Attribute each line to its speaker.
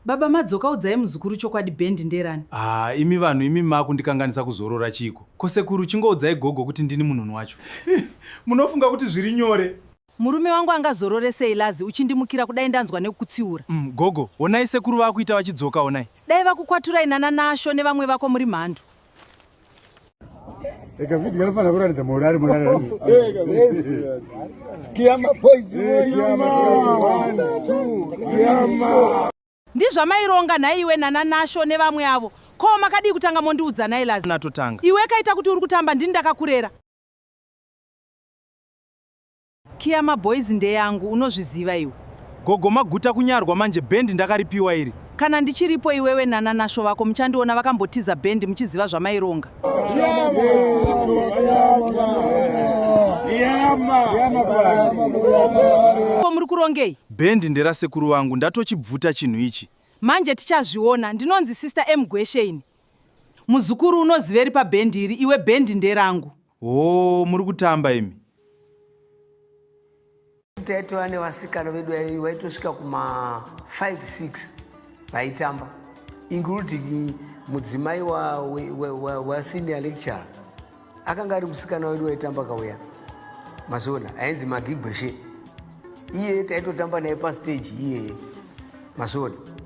Speaker 1: Baba madzoka udzai muzukuru chokwadi band nderani. Ah, imi vanhu
Speaker 2: imi makundikanganisa kuzorora chiko. Ko sekuru chingoudzai gogo kuti ndini munhu wacho. Munofunga kuti zviri nyore. Murume wangu
Speaker 1: angazorore sei Lazi uchindimukira kudai ndanzwa nekukutsiura. Mm, gogo, onai
Speaker 2: sekuru vakuita vachidzoka onai. Dai vakukwaturai
Speaker 1: nana Nasho nevamwe vako muri mhandu.
Speaker 3: Eka video yanofanira kuratidza morari morari.
Speaker 4: Kiyama boys Kiyama. Kiyama.
Speaker 1: Ndizvamaironga nhaiwe nana Nasho nevamwe avo. Ko makadii kutanga mondiudza nhai Lazi? Natotanga. Iwe kaita
Speaker 2: kuti uri
Speaker 1: kutamba ndini ndakakurera. Kiya maboys ndeyangu unozviziva iwe. Gogo maguta
Speaker 2: kunyarwa manje band ndakaripiwa iri. Kana ndichiripo
Speaker 1: iwewe nana nasho vako muchandiona vakambotiza band muchiziva zvamaironga. Ko muri kurongei? Band ndera sekuru
Speaker 2: vangu ndatochibvuta chinhu ichi. Manje tichazviona
Speaker 1: ndinonzi sister M Gweshe ini. Muzukuru unoziveri pa band iri iwe band nderangu. Hoo muri
Speaker 2: kutamba imi.
Speaker 4: Taitova nevasikana vedu vaitosvika kuma 5 6 vaitamba including mudzimai wa, wa, wa, wa, wa senior lecturer akanga ari musikana wedu waitamba kauya mazona ainzi magigweshe iye taitotamba naye pastage iyeye mazona